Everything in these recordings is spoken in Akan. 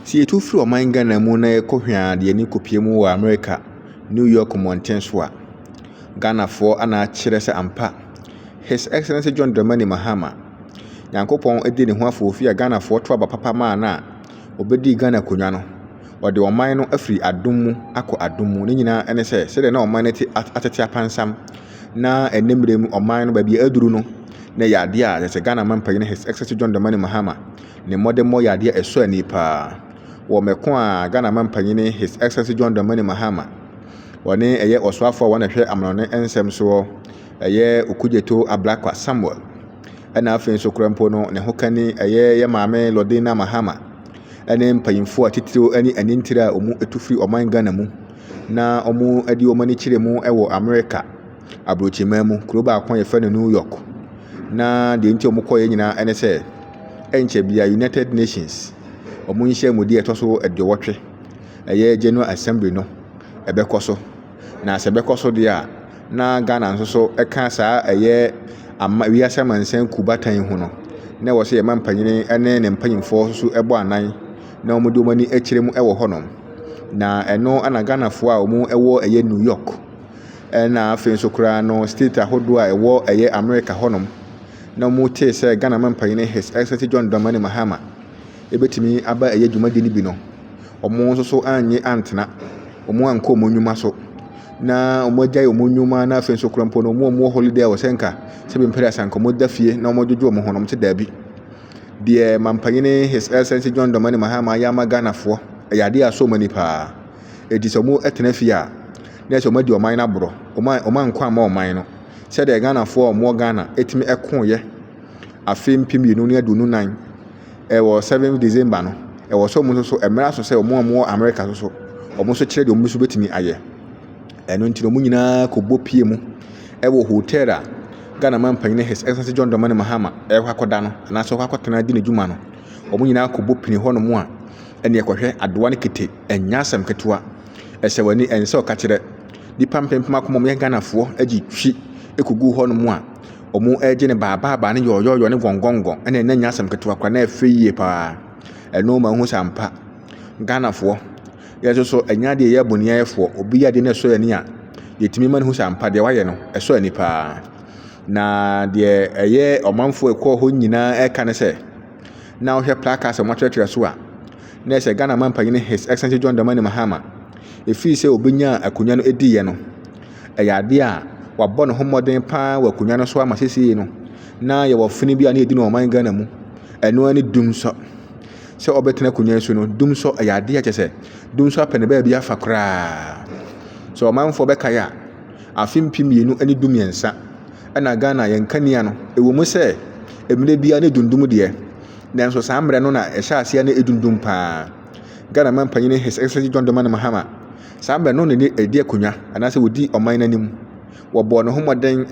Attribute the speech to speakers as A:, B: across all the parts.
A: Sɛ yɛtu firi ɔman Ghana mu na yɛkɔ hwɛaa de ani kɔpie mu wɔ Amerika, New York mmɔnten so a, Ghanafoɔ ana akyerɛ sɛ ampa, His Excellency John Dramani Mahama, Nyankopɔn adii ne ho afoofi a Ghanafoɔ to aba papa maa no a ɔbɛdii Ghana akonnwa no, ɔde ɔman no afiri adom mu akɔ adom mu, ne nyinaa ne sɛ sɛdeɛ na ɔman no te atete apansam na ɛnnɛ mmerɛ mu ɔman no baabi a aduru no, na ɛyɛ adeɛ a kyerɛ sɛ Ghana Mma Mpanyin His Excellency John Dramani Mahama Ne mmɔdemmɔ yɛ adeɛ a ɛsɔ ani paa. Wɔ mɛko a Ghana Mampanyini His Excellency John Dramani Mahama ɔne ɛyɛ ɔsoafoɔ a wɔn na ɛhwɛ amanɔne nsɛm soɔ ɛyɛ Okudzeto Ablakwa Samuel ɛna afei nso kora mpo no ne ho kani ɛyɛ yɛ maame Lordina Mahama ɛne mpanyinfoɔ a titiriw ɛne anintire a wɔn ɛtu firi ɔman Ghana mu na wɔn ɛde wɔn ani kyerɛ mu ɛwɔ Amerika abrokyiman mu, kuro baako a yɛfrɛ no New York. Na deɛ nti a wɔkɔeɛ nyinaa ne sɛ, ɛnkyɛ biara United Nations wɔn nhyiamudie a ɛtɔ so aduowɔtwe, ɛyɛ General Assembly no ɛbɛkɔ so. Na sɛ ɛbɛkɔ so deɛ a, na Ghana nso so ka saa ɛyɛ ama wiase amansan kuo bata yi ho no, na ɛwɔ sɛ yɛma mpanin ne ne mpanimfoɔ nso bɔ anan na wɔde wɔn ani kyerɛ mu wɔ hɔnom. Na ɛno na Ghanafoɔ a wɔwɔ ɛyɛ New York. Ɛna afei nso koraa no state ahodoɔ a ɛwɔ ɛyɛ America hɔ nom na wɔn tee sɛ Ghana Mampanyini His Excellency John Dramani Mahama ɛbɛtumi aba ɛyɛ dwumadie no bi no wɔn nso so annye antena wɔn ankɔ wɔn nnwuma so na wɔn agyae wɔn nnwuma na afei nso koraa mpo no wɔn a wɔwɔ holiday a wɔsɛ nka sɛ bi mpɛrɛ asanka wɔn da fie na wɔn adwodwo wɔn ho na wɔn te daabi deɛ Mampanyini His Excellency John Dramani Mahama ayɛ ama Ghanafoɔ ɛyɛ adeɛ a asɔ wɔn ani paa ɛti sɛ wɔn ɛtena fie a na ɛsɛ wɔadi ɔman no aborɔ. Wɔma wɔma nkwa mma ɔman no. Sɛdeɛ Ghanafoɔ a wɔwɔ Ghana tumi koeɛ afe mpem mmienu ne aduonu nan ɛwɔ seven December no, ɛwɔ sɛ wɔn nso so ɛmmerɛ aso sɛ wɔn a wɔwɔ America nso so, wɔn nso kyerɛ deɛ wɔn nso bɛtumi ayɛ. Ɛno nti na wɔn nyinaa kɔbɔ pie mu ɛwɔ hotel a Ghana man panyin His Excellency John Dramani Mahama ɛrekɔ akɔda no anaasɛ ɔkɔ akɔtena di n'adwuma no. Wɔn nyinaa kɔbɔ pini hɔnom a ɛne ɛkɔhwɛ adoa ne kete ɛnyɛ asɛm ketewa. Ɛsɛ w'ani ɛnsɛ sɛ ɔka kyerɛ nnipa mpempem akoma a wɔyɛ Ghanafoɔ de twi kɔgu hɔnom a wɔregye ne baabaabaa ne yɔɔyɔɔyɔ ne gɔngɔngɔn ɛna ɛna nyɛ asɛm ketewa koraa na ɛfɛ yie paa. Ɛno ma wohu sɛ ampa Ghanafoɔ yɛn nso so ɛnyɛ adeɛ yɛyɛ boniayɛfoɔ. Obi yɛ adeɛ na ɛsɔ yɛn ani a yɛtumi ma no hu sɛ ampa deɛ wayɛ no ɛsɔ ani paa. Na deɛ ɛyɛ ɔmanfoɔ ɛkɔɔ hɔ nyinaa ɛka ne sɛ na wohwɛ placards a wɔatwerɛtwerɛ so a na ɛhyɛ Ghana Manpanin His Excellency John Dramani Mahama. Ɛfiri sɛ ɔbɛnyaa akonnwa no diiɛ no, ɛyɛ adeɛ a wabɔ ne ho mmɔden paa wɔ akonnwa no so ama seesei no, na yɛwɔ fene bi a na yɛdi no ɔman Ghana mu. Ɛno ara ne dumsɔ. Sɛ ɔbɛtena akonnwa yi so no, dumsɔ ɛyɛ adeɛ a kyɛ sɛ dumsɔ apɛ ne baabi afa koraa. Sɛ ɔmanfoɔ bɛkae a, afe mpem mmienu ne du mmiɛnsa ɛna Ghana yɛn kanea no, ɛwɔ mu sɛ mmerɛ biara ne dundum deɛ, Nanso saa mmerɛ no na ɛhyɛ aseɛ na ɛdundum pa ara. Ghana manpanin His Excellency John Dramani Mahama, saa mmerɛ no na ne ɛdi akonnwa anaasɛ ɔdi ɔman no anim. Wɔbɔɔ ne ho mmɔden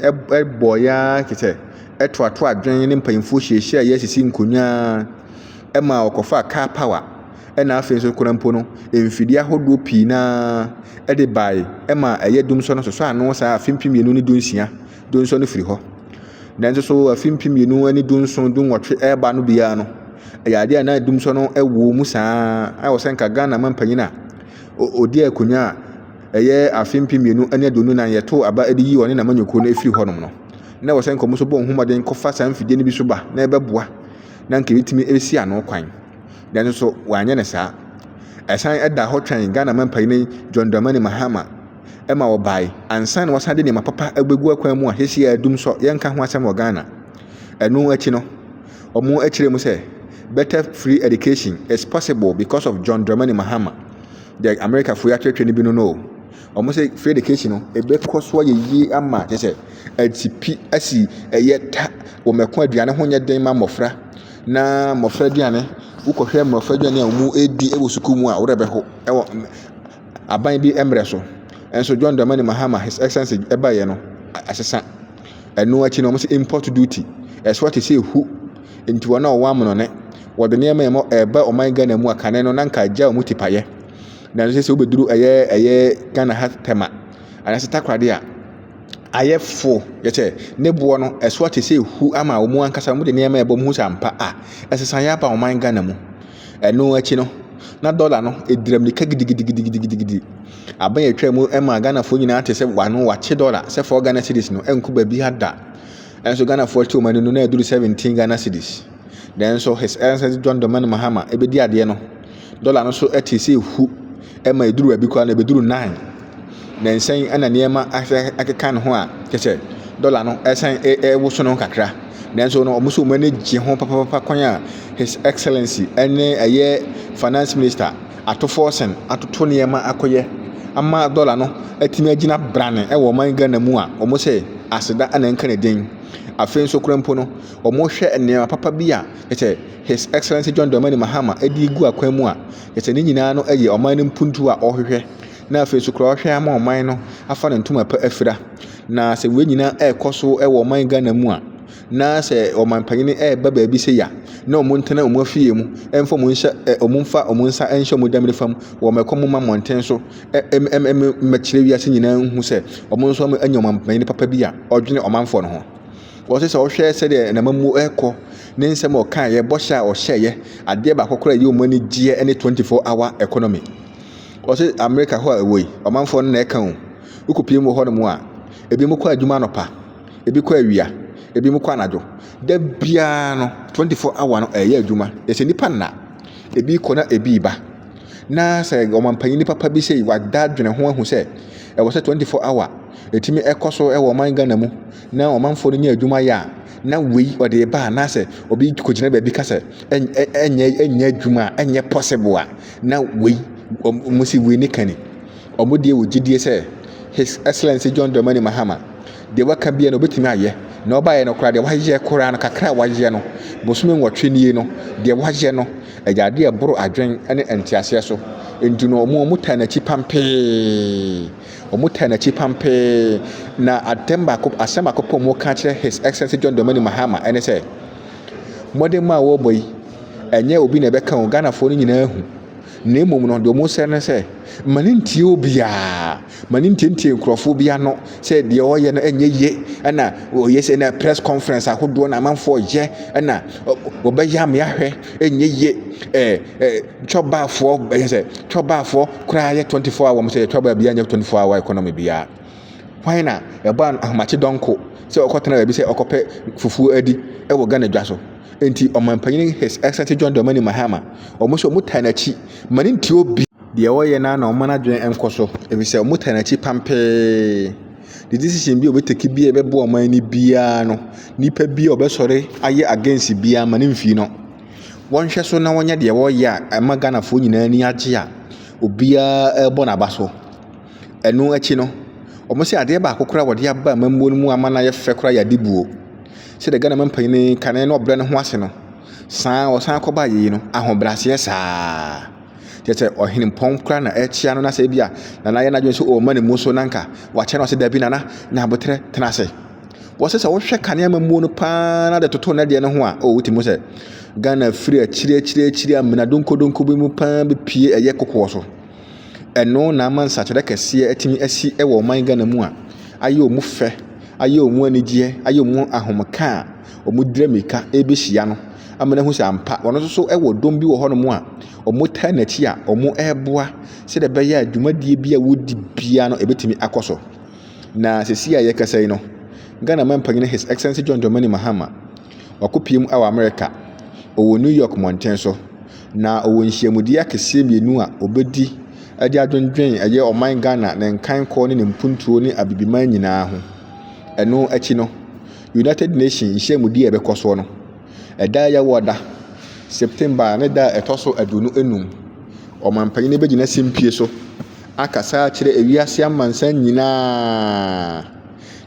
A: bɔeɛ ara te sɛ ɛtoatoa adwene ne mpanyinfoɔ hyiahyiaeɛ asisi nkonnwa ara ma ɔkɔfaa car power ɛna afei nso koraa mpo no mfidie ahodoɔ pii no ara ɛde bae ɛma ɛyɛ dum sɔ no sosɔ ano saa afe mpem mmienu ne du nsia Dunsɔn no firi hɔ. Nanso so afe mpem mmienu ne dunson dunwɔtwe ɛreba no biara no, ɛyɛ adeɛ a na dumsɔn no wɔ mu saa a wɔ sɛ nka Ghana mampanyin a ɔdi akonnwa a ɛyɛ afe mpem mmienu ne aduonu nan yɛtoo aba de yi ɔne n'amanyɔkuo no firi hɔnom no na wɔ sɛ nka wɔn nso bɔ wɔn ho mmɔden kɔfa saa mfidie no bi so ba na ɛbɛboa na nka ɛbɛtumi ɛbɛsi ano kwan nanso so wɔanyɛ no saa ɛsan ɛda hɔ twɛn Ghana mampanyin John Dramani Mahama ma wɔbae ansa na wɔasan de nneɛma papa abegu akwan mu a seesei adum nso yɛnka ho asɛm wɔ Ghana. Ɛno akyi no, wɔkyerɛɛ mu sɛ, Better free education is possible because of John Dramani Mahama. Deɛ Amerikafo yi atwerɛtwerɛ no bi no no o. Wɔsɛ free education no, ɛbɛkɔ so ayɛ yie ama kyerɛ sɛ asipi asi ɛyɛ ta wɔ mako aduane ho nyɛ den ma mmɔfra na mmɔfra aduane wokɔhwɛ mmɔfra aduane a wɔdi wɔ sukuu mu a wo werɛ bɛho ɛwɔ aban bi mbrɛ so. Nso John Dramani Mahama, His Excellency, ɛbaeɛ no, asesa. Ɛno akyi no, wɔn sɛ import duty. Ɛsoa te sɛ ehu. Nti wɔn a wɔwɔ amonone, wɔde nneɛma a ɛmɔ ɛreba ɔman Ghana mu a kane no na nka agya wɔn tipayɛ. Nanso sɛ sɛ wobɛduru ɛyɛ ɛyɛ Ghana ha tɛma anaasɛ takoradi a ayɛ fo yɛ sɛ ne boɔ no ɛsoa te sɛ ehu ama wɔn ankasa wɔn de nneɛma ɛbɔ mu sɛ ampa a ɛsesa yɛ aba ɔman Ghana mu. Ɛno akyi no, na dɔla no dira mmirika gidigidigidigidigidi. Aban a ɛtwaa mu maa Ghanafoɔ nyinaa te sɛ wɔano wɔakye dɔla sɛ four Ghana cedis no ɛnko baabiara da. Nanso Ghanafoɔ te wɔn ani no na ɛduru seventeen Ghana cedis. Nanso His Excellency John Dramani Mahama bɛdi adeɛ no, dɔla no so te sɛ ehu ma ɛduru baabi koraa no ɛbɛduru nine. Nnansa yi na nneɛma asɛ akeka ne ho a kyerɛ sɛ dɔla no ɛresan ɛrewoso ne ho kakra. Nanso no wɔn nso wɔn ani gye ho papaapa kwan a his excellence ɛne ɛyɛ finance minister ato forcing atoto nneɛma akɔyɛ ama dɔla no atumi agyina brane ɛwɔ ɔman Ghana mu a wɔn sɛ aseda na ɛnka ne din. Afei nso koraa mpo no wɔhwɛ nneɛma papa bi a kyerɛ sɛ his excellence John Dramani Mahama ɛde gu akwan mu a kyerɛ sɛ ne nyinaa no ɛyɛ ɔman no mpuntuo a wɔhwehwɛ. na afei nso koraa ɔhwɛ ama ɔman no afa ne ntoma pa afira. Na sɛ wei nyinaa ɛrekɔ so wɔ ɔman Ghana mu a, na sɛ ɔman panyin ɛreba baabi sɛ ya, na wɔn ntena wɔn afie mu, ɛmfa wɔn nhyɛ ɛ wɔn mfa wɔn nsa nhyɛ wɔn dɛm nifa mu, wɔn ɛkɔ mu ma mmɔnten so, ɛm ɛm ɛm mmɛkyerɛ wiase nyinaa nhu sɛ wɔn nso anya ɔman panyin papa bi a ɔdwene ɔmanfoɔ no ho. Wɔsɛ sɛ ɔhwɛ sɛdeɛ n'amammuo ɛrekɔ, ne nsɛm a ɔkaeɛ, bɔhyɛ a ɔhyɛeɛ, adeɛ baako koraa a ɛyɛ wɔn anigyeɛ ne 24 hour economy. Wɔse America hɔ a ɛwɔ yi, ɔmanfoɔ no na ɛka o. Wokɔpie mu wɔ hɔ nom a, ebinom kɔ adwuma anɔpa, ebi kɔ awia, ebinom kɔ anadwo. Da biara no, 24 hour no ɛyɛ adwuma. Ɛsɛ nnipa nna. Ebi kɔ na ebi ba. Na sɛ ɔmanpanyini papa bi sei wada dwene ho ahu sɛ ɛwɔ sɛ 24 hour ɛtumi ɛkɔ so ɛwɔ ɔman Ghana mu na ɔmanfoɔ no nya adwuma yɛ a, na wei ɔde ba anaasɛ obi kɔgyina baabi ka sɛ ɛnyɛ adwuma a ɛnyɛ possible a. Na wei, wɔn si wei ne kani, wɔn deɛ wɔ gyidie sɛ His Excellency John Dramani Mahama, deɛ waka biara no ɔbɛtumi ayɛ, na ɔbaeɛ no koraa deɛ wayɛ koraa no, kakra a wayɛ no, bosome nwɔtwe nie no, deɛ wayɛ no, ɛyɛ adeɛ a ɛboro adwen ne nteaseɛ so. Nti no, wɔn wɔn taa n'akyi pampee, wɔn taa n'akyi pampee, na atɛm baako, asɛm baako pɔ wɔn ka kyerɛ His Excellency John Dramani Mahama ɛne sɛ, mmɔden mu a wɔrebɔ yi, Ɛnyɛ obi na ɛbɛka o, Ghanafoɔ no nyinaa hu. Na mmom no, deɛ wɔsrɛ ne sɛ, ma no ntie obiara. Ma no ntientie nkurɔfoɔ bi ano sɛ deɛ ɔreyɛ no ɛnyɛ yie. Ɛna ɔyɛ sɛ na press conference ahodoɔ na amanfoɔ yɛ. Ɛna wɔbɛyɛ amea hwɛ ɛnyɛ yie. Ɛɛ ɛɛ twɔbaafoɔ ɛyɛ sɛ twɔbaafoɔ koraa yɛ 24 hour wɔn sɛ yɛ twɔbaa biara nyɛ 24 hour economy biara. Hwan na ɛbɔɔ n'ahomakye dɔnko sɛ ɔkɔtena baabi sɛ ɔkɔpɛ fufuo adi wɔ Ghana dwa so? Enti Ɔmanpanin His Excellency John Dramani Mahama, wɔn nso wɔtaa n'akyi ma ne nte obi. Deɛ ɔyɛ no ara na wɔma n'adwene nkɔ so ɛfiri sɛ wɔtaa n'akyi pampee. The decision bi a ɔbɛtake biara a ɛbɛboa ɔman no biara no, nipa bi a ɔbɛsɔre ayɛ against biara ma no mfiri no. Wɔnhwɛ so na wɔnyɛ deɛ wɔreyɛ a ɛma Ghanafoɔ nyinaa ani agye a obiara rebɔ n'aba so. Ɛno akyi no, wɔse adeɛ baako koraa a wɔde aba amammuo no mu ama no ayɛ fɛ koraa yɛ adibuo. Sɛdeɛ Ghana mampanin yi kane na ɔbrɛ ne ho ase no, saa a ɔsan kɔba ayie no, ahobrɛaseɛ saa. Kyerɛ sɛ ɔhenempɔn koraa na ɛrekyea no na sɛ ebia Nana ayɛ n'adwene sɛ ɔrema ne mu so na nka wakyɛ no ɔse dabi Nana nya aboterɛ tena ase. Wɔse sɛ wohwɛ kane amammuo no paa na de toto ne deɛ no ho a, o wotumi hu sɛ Ghana firi akyiri akyiri akyiri amena donkɔdonkɔ bi mu paa bɛpue ɛyɛ kokoɔ so. Ɛno na ama nsakyerɛ kɛseɛ atumi asi wɔ ɔman Ghana mu a ayɛ wɔn fɛ, ayɛ wɔn anigyeɛ, ayɛ wɔn ahomeka a wɔdira mmirika rebɛhyia no ama no ahu sɛ ampa wɔn nso so wɔ dɔm bi wɔ hɔnom a wɔtaa n'akyi a wɔreboa sɛdeɛ ɛbɛyɛ a dwumadie bi a wɔdi biara no ɛbɛtumi akɔ so. Na sɛsi a yɛkasa yi no, Ghana manpanyin His Excellency John Dramani Mahama wakɔpiem wɔ Amerika, ɔwɔ New York mmɔnten so. Na ɔwɔ nhyiamudie akɛseɛ mmienu a ɔbɛdi de adwendwen ɛyɛ ɔman Ghana, ne nkankɔ ne ne mpuntuo ne Abibiman nyinaa ho. Ɛno akyi no, United Nations nhyiamudie a ɛbɛkɔ soɔ no, ɛda a ɛyɛ awɔ da, September ne da a ɛtɔ so aduonu enum, ɔmanpanin no bɛgyina simpie so akasa akyerɛ ewiase amansan nyinaa.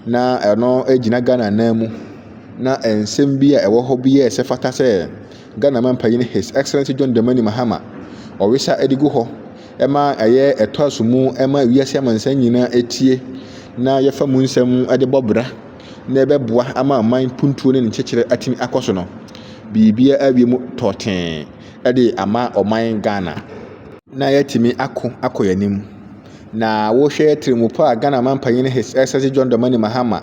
A: Na ɛno gyina Ghana nan mu. Na nsɛm bi a ɛwɔ hɔ bi yɛɛ sɛ ɛfata sɛ Ghana Mampanyin His Excellency John Dramani Mahama ɔwesa de gu hɔ ma ɛyɛ ɛtoaso mu ma wiase amansan nyinaa etie na yɛfa mu nsɛm de bɔ bra na ɛbɛboa ama aman puntuo ne ne nkyekyerɛ atumi akɔ so no. Biribiara awie mu tɔɔtee de ama ɔman Ghana na yɛatumi ako akɔ yɛn anim. Na wohwɛ tirimupɔ a Ghana Mampanyin His Excellency John Dramani Mahama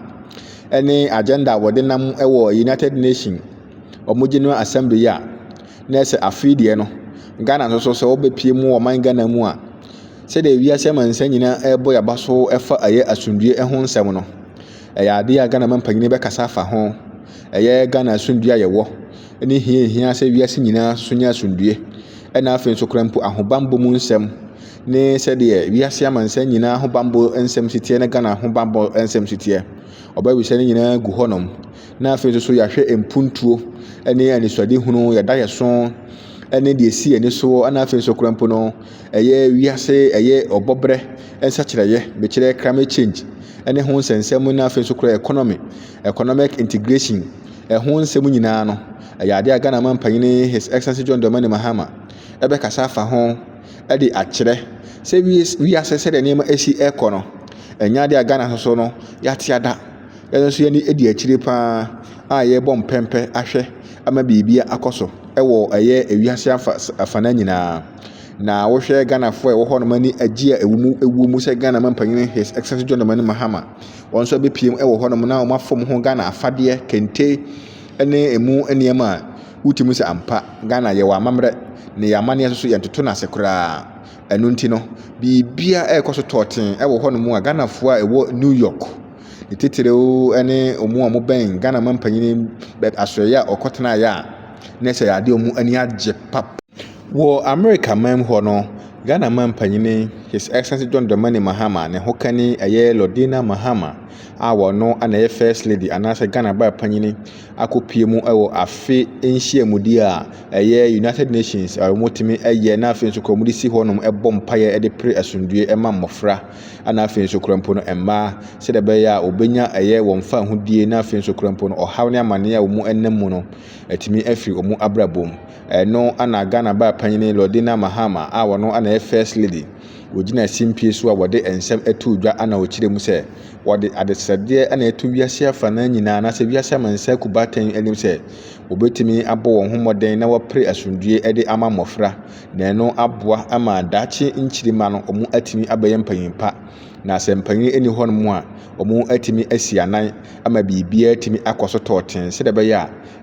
A: ne agenda a wɔde nam wɔ United Nations wɔn general assembly yi a na ɛsɛ afei deɛ no ghana nso so sɛ wɔbɛpie mu ɔman ghana mu a sɛdeɛ wiase amansan nyinaa ɛrebɔ yaba so ɛfa ɛyɛ asomdue ɛho nsɛm no ɛyɛ adeɛ a ghana mampanyini bɛkasa afa ho ɛyɛ ghana asomdue a yɛwɔ ne hia hia sɛ wiase nyinaa so nyɛ asomdue ɛna afei nso kora mpo ahobanbɔ mu nsɛm ne sɛdeɛ wiase amansan nyinaa ahobanbɔ nsɛm siteɛ ne ghana ahobanbɔ nsɛm siteɛ ɔbɛwisɛ no nyinaa gu hɔnom na afei nso so yɛahwɛ mpuntuo ne anisoadehunu, yɛn adaeɛso ne deɛ ɛsi yɛn ani soɔ, ɛna afei nso koraa mpo no, ɛyɛ wiase, ɛyɛ ɔbɔbrɛ nsakyerɛeɛ, mekyerɛ climate change ne ho nsɛnsɛm na afei nso koraa economy, economic integration, ɛho nsɛm nyinaa no, ɛyɛ adeɛ a Ghana ma mpanyin His Excellency John Dramani Mahama ɛbɛkasa afa ho de akyerɛ sɛ wiase sɛdeɛ nneɛma ɛsi ɛrekɔ no, ɛnyɛ adeɛ a Ghana nso so no yɛate ada. Yɛn nso yɛn ani di akyire pa ara a yɛrebɔ mpɛmpɛ ahwɛ ama biribi akɔ so wɔ ɛyɛ ewiase afa afana nyinaa. Na wohwɛ Ghanafoɔ a ɛwɔ hɔ nom ani agye a ɛwɔ mu ɛwɔ mu sɛ Ghana manpanyin His Excellency John Dramani Mahama wɔn nso abɛpiem wɔ hɔ nom na wɔn afam ho Ghana afadeɛ, kente ne emu nneɛma a wotumi sɛ ampa Ghana yɛwɔ amammerɛ na yɛ amanneɛ nso so yɛntoto no ase koraa. Ɛno nti no, biribiara ɛrekɔ so tɔɔten wɔ hɔ nom a Ghanafoɔ a ɛwɔ New York, Ne titiriw ne wɔn a wɔbɛn Ghana mampanyin no bɛ asoɛeɛ a ɔkɔtenaeɛ a na ɛsɛ adeɛ a wɔn ani agye pap. Wɔ Amerika man mu hɔ no, Ghana mampanyin His Excellency John Dramani Mahama ne hokani ɛyɛ Lordina Mahama a ɔno na ɛyɛ First Lady anaasɛ Ghana baa panyin akɔpue mu wɔ afe nhyiamudi a ɛyɛ United Nations a wɔtumi yɛ na afei nso kora wɔde si hɔnom bɔ mpaeɛ de pere asomdwoeɛ ma mmɔfra. Ɛna afei nso kora mpo no mmaa sɛdeɛ ɛbɛyɛ a wɔbɛnya ɛyɛ wɔn fahodie na afei nso kora mpo no ɔhaw ne amaneɛ a wɔn ɛnam mu no atumi afiri wɔn abrabɔ mu ɛno ana Ghana baa panyini Lordina Mahama a wɔno ana yɛ first lady wɔgyina simpie so a wɔde nsɛm ɛto dwa ana ɔkyerɛ mu sɛ wɔde adesrɛdeɛ ana ɛto wiase afa no nyinaa anaasɛ wiase amansa kubatɛn anim sɛ wɔbɛtumi abɔ wɔn ho mmɔden na wɔpere asomdwie ɛde ama mmɔfra Na ɛno aboa ama daakye nkyiri mma no wɔatumi abɛyɛ mpanyin pa. Na sɛ mpanyin nni hɔnom a, wɔatumi asi anan ama biribiara atumi akɔ so tɔɔten sɛdeɛ ɛbɛyɛ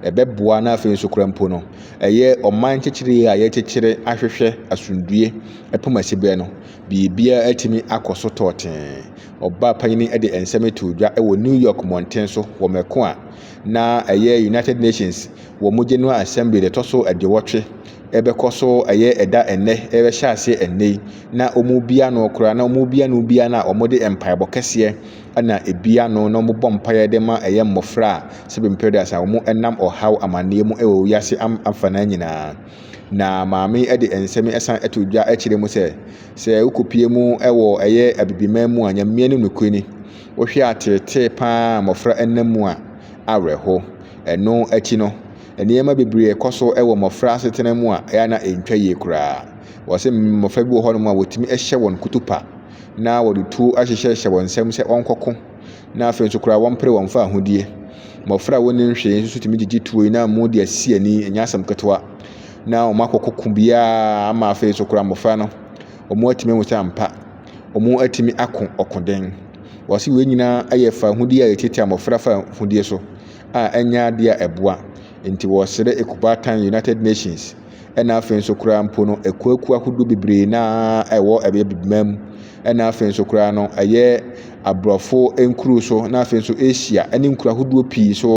A: a ɛbɛboa na afei nso koraa mpo no, ɛyɛ ɔman nkyekyere a yɛkyekyere ahwehwɛ asomdue ɛpem asiberɛ no, biribiara atumi akɔ so tɔɔten. Ɔbaa panyin de nsɛm too dwa wɔ New York mmɔnten so wɔ mako a na ɛyɛ United Nations wɔ mo General Assembly da ɛtɔ so aduowɔtwe ɛbɛkɔ so ɛyɛ ɛda ɛnnɛ ɛbɛhyɛ aseɛ ɛnnɛ yi na wɔn bia no koraa na wɔn bia no bia no a wɔn de mpaebɔ kɛseɛ ɛna ebia no na wɔn bɔ mpaeɛ de ma ɛyɛ mmɔfra a sɛbi mpɛrɛdas a wɔn ɛnam ɔhaw amaneɛ mu ɛwɔ wiase am afanaa nyinaa na maame ɛde nsɛm ɛsan ɛto dwa ɛkyerɛ mu sɛ sɛ wokɔpie mu ɛwɔ ɛyɛ abibiman mu a nyameɛ no nokorɛ ni Wohwɛ ateetee pa ara a mmofra nam mu a, awerɛhow. Ɛno akyi no, nneɛma bebree kɔ so wɔ mmofra asetena mu a ɛyɛ a na entwa yie koraa. Wɔse mmofra bi wɔ hɔnom a wotumi hyɛ wɔn kutupa, na wɔde tuo ahyehyɛhyɛ wɔn nsam sɛ wɔnkɔko, na afei nso koraa wɔmpere wɔn mfa ahodie. Mmofra a wonnim hwee nso tumi gyigye tuo yi na amu de asi ani, ɛnyɛ asɛm ketewa, na wɔakɔko ko biara ama afei nso koraa mmofra no, wɔatumi ahu sɛ ampa, wɔatumi ako ɔkoden. Wɔse wei nyinaa yɛ fawohodie a yɛtiatia mmɔfra fawohodie so a ɛnyɛ adeɛ a ɛboa. Nti wɔsrɛ Ekubaatan United Nations ɛna afei nso koraa mpo no akuakuo ahodoɔ bebree no ara a ɛwɔ ɛbɛyɛ Bibima mu ɛna afei nso koraa no ɛyɛ aborɔfo nkuro so na afei nso Asia ɛne nkuro ahodoɔ pii so.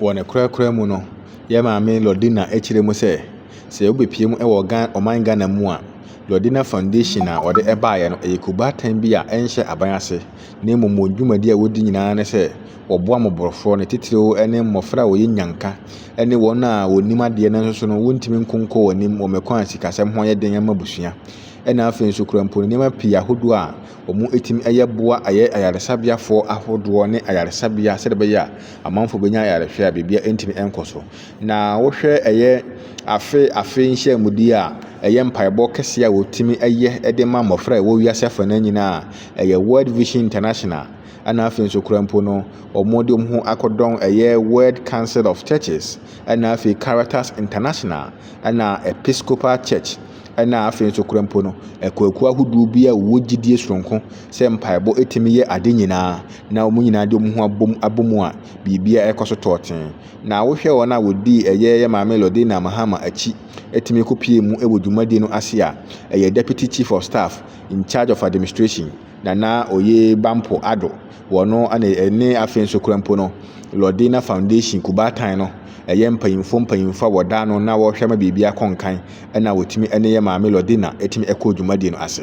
A: Wɔ ne korakora mu no, yɛn maame Lordina kyerɛ mu sɛ, sɛ wobɛpie mu wɔ Ghana, ɔman Ghana mu a, Lordina Foundation a wɔde baeɛ no, ɛyɛ kubaatan bi a ɛnhyɛ aban ase, na mmom wɔn dwumadi a wɔdi nyinaa ne sɛ, Wɔboa mmɔborɔfoɔ, ne titiriw ne mmɔfra a wɔyɛ nnyanka, ne wɔn a wɔnnim adeɛ nanso so no wɔntumi nkɔ nkɔ wɔn anim wɔ mɛkwan a sikasɛm ho yɛ den ma abusua, ɛna afei nso kura mpo no nneɛma pii ahodoɔ a wɔtumi yɛ boa ayɛ ayaresabeafoɔ ahodoɔ ne ayaresabea sɛdeɛ ɛbɛyɛ a amanfoɔ bɛnya ayarehwɛ a biribiara ntumi nkɔ so. Na wohwɛ ɛyɛ afe afe nhyiamudie a ɛyɛ mpaebɔ kɛseɛ a wɔtumi yɛ de ma mmɔfra a ɛwɔ wiase afa no nyinaa a ɛyɛ World Vision International ɛna afei nso kora mpo no wɔde wɔn ho akɔdɔn ɛyɛ World Council of Churches ɛna afei Caritas International ɛna Episcopal Church ɛna afei nso kora mpo no akuakuo ahodoɔ bi a wɔwɔ gyidie soronko sɛ mpaebɔ ɛtumi yɛ ade nyinaa na wɔn nyinaa de wɔn ho abom abom a biribiara ɛkɔ so tɔɔten na wohwɛ wɔn a wɔdii ɛyɛ yɛ maame Lordina Mahama akyi ɛtumi kɔpie mu ɛwɔ dwumadie no ase a ɛyɛ Deputy Chief of Staff in charge of administration Na na oye Bampo Addo wɔ no ne ɛne afei nso kura mpo no Lordina Foundation Kubaatan no ɛyɛ mpanyinfoɔ mpanyinfoɔ a wɔda ano na wɔhwɛ ma biribi akɔ nkan ɛna wɔtumi ɛne yɛ maame Lordina ɛtumi ɛkɔ dwumadie no ase.